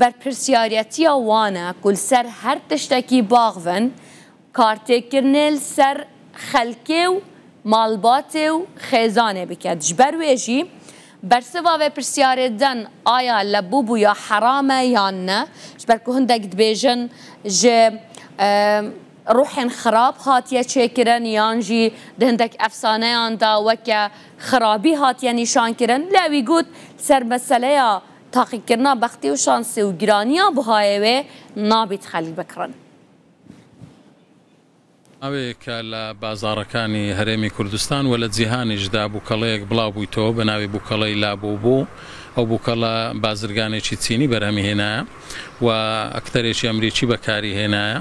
بەرپرسیاریەتیە وانە کول سەر هەر تشتەکی باغ ڤن کارتێکرنێل سەر خەلکێ و مالباتێ و خێزانێ بکەد ژ بەر وێ ژی بەرسڤا ڤێپرسیارێ دەن ئایا لە بوبو یا حەرامە یان نە ژ بەر کو هندەک دبێژن ژ روحێن خراب هاتیە چێ کرن یان ژی دە هندەک ئەفسانەیان دا وەکە خرابی هاتیە نیشان کرن لە وی گوت سەر مەسەلەیا تاقیکردنا بەختی و شانسی و گرانیا بوهایەێ نابیت خەلک بکڕن. ماوەیەکە لە بازاڕەکانی هەرێمی کوردستان و لە جیهانیشدا بووکەڵەیەک بڵاوبوویتەوە بە ناوی بووکەڵەی لابووبو، ئەو بووکەڵە بازرگانێکی چینی بەرهەمی هێنایە و ئەکتەرێکی ئەمریکی بەکاری هێنایە.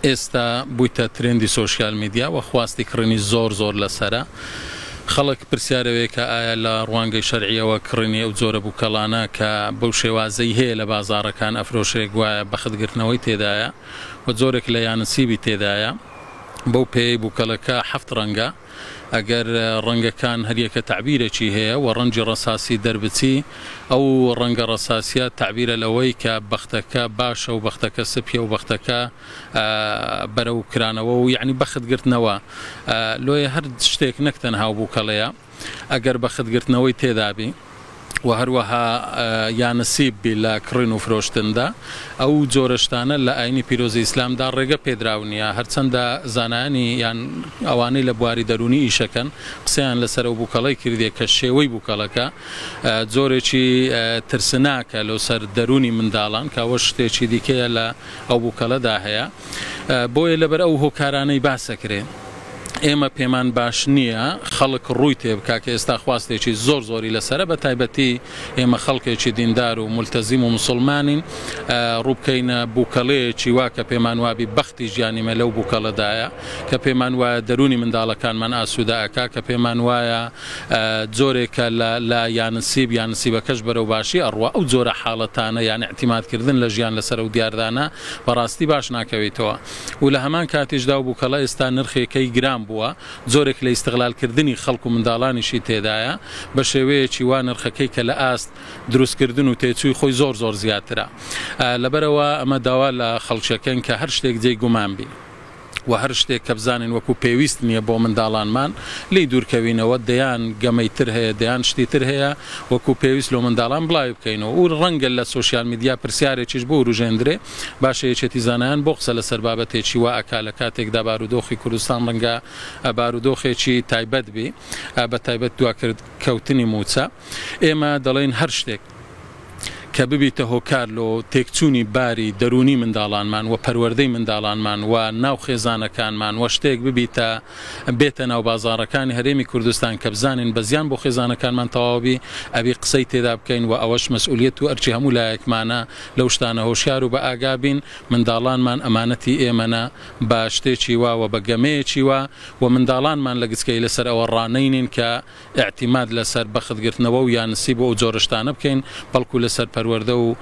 ئێستا بویتە ترێندی سۆشیال میدیا وە خواستی کڕینی زۆر زۆر لەسەرە خەڵک پرسیارەوەیە کە ئایا لە ڕوانگەی شەرعیەوە کڕینی ئەو جۆرە بوکەڵانە کە بەو شێوازەی هەیە لە بازاڕەکان ئەفرۆشرێ گوایە بەختگرتنەوەی تێدایە و جۆرێک لە یانسیبی تێدایە بەو پێیەی بوکەڵەکە حەفت ڕەنگە. ئەگەر ڕەنگەکان هەریەکە تەعبیرێکی هەیە و ڕەنگی ڕەساسی دەربچی، ئەو ڕەنگە ڕەساسیە تەعبیرە لەوەی کە بەختەکە باشە و بەختەکە سپیە و بەختەکە بەرەو کرانەوە و یەعنی بەخت گرتنەوە لۆیە هەر شتێک نەک تەنها و بوکەڵەیە ئەگەر بەخت گرتنەوەی تێدابی. و هەروەها یا نسیب بی لە کڕین و فرۆشتندا، ئەو جۆرە شتانە لە ئاینی پیرۆزی ئیسلامدا ڕێگە پێدراو نییە، هەرچەندە زانایانی یان ئەوانەی لە بواری دەروونی ئیشەکەن قسەیان لەسەر ئەو بوکەڵەی کردیە کە شێوەی بوکەڵەکە جۆرێکی ترسناکە لۆ سەر دەروونی منداڵان کە ئەوەش شتێکی دیکەیە لە ئەو بوکەڵەدا هەیە بۆیە لەبەر ئەو هۆکارانەی باسەکرێ. ئێمە پێمان باش نییە خەڵک ڕووی تێ بکا کە ئێستا خواستێکی زۆر زۆری لەسەرە بە تایبەتی ئێمە خەڵکێکی دیندار و مولتەزیم و مسوڵمانین ڕووبکەینە بووکەڵەیەکی وا کە پێمان وابی بەختی ژیانیمە لەو بووکەڵەدایە کە پێمان وایە دەرونی منداڵەکانمان ئاسوودە ئەکا کە پێمان وایە جۆرێکە لە لە یانسیب یانسیبەکەش بەرەو باشی ئەڕوا ئەو جۆرە حاڵەتانە یان اعتیمادکردن لە ژیان لەسەر ئەو دیاردانە بەڕاستی باش ناکەویتەوە و لە هەمان کاتیشدا و بوکەڵە ئێستا نرخێ کەی گران بووە جۆرێک لە ئیستغلال کردنی خەڵک و منداڵانیشی تێدایە بە شێوەیەکی وا نرخەکەی کە لە ئاست دروست کردن و تێچووی خۆی زۆر زۆر زیاترە لەبەرەوە ئەمە داوا لە خەڵکەکەن کە هەر شتێک جێی گومان بین. و هەر شتێک کە بزانین وەکو پێویست نییە بۆ منداڵانمان لی دوورکەوینەوە دەیان گەمەی تر هەیە دەیان شتی تر هەیە وەکو پێویست لۆ منداڵان بڵاوی بکەینەوە و ڕەنگە لە سوسیال میدیا پرسیارێکیش بۆ وروژێندرێ باشە یەکێتی زانایان بۆ قسە لەسەر بابەتێکی وا ئەکا لە کاتێکدا بارودۆخی کوردستان ڕەنگە بارودۆخێکی تایبەت بی بە تایبەت دواکرد کەوتنی موچە ئێمە دەڵێن هەر شتێک کە ببیتە هۆکار لۆ تێکچوونی باری دەروونی منداڵانمان و پەروەردەی منداڵانمان و ناو خێزانەکانمان و شتێک ببیتە بێتە ناو بازارەکانی هەرێمی کوردستان کە بزانین بە زیان بۆ خێزانەکانمان تەواوبی ئەبی قسەی تێدا بکەین و ئەوەش مەسئولیت و ئەرچی هەموو لایەکمانە لەو شتانە هۆشیار و بەئاگا بین، منداڵانمان ئەمانەتی ئێمەنە، با شتێکی وا و بە گەمەیەکی وا و منداڵانمان لە گچکەیی لەسەر ئەوە ڕانەینین کە ئیعتیماد لەسەر بەخت گرتنەوە و یا نسیب و ئەو جۆرە شتانە بکەین، بەڵکو لەسەر پەروەردە و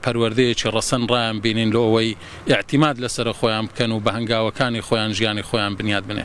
پەروەردەیەکی ڕەسەن ڕایان بینین لۆ ئەوەی ئیعتیماد لەسەرە خۆیان بکەن و بە هەنگاوەکانی خۆیان ژیانی خۆیان بنیاد بنێ.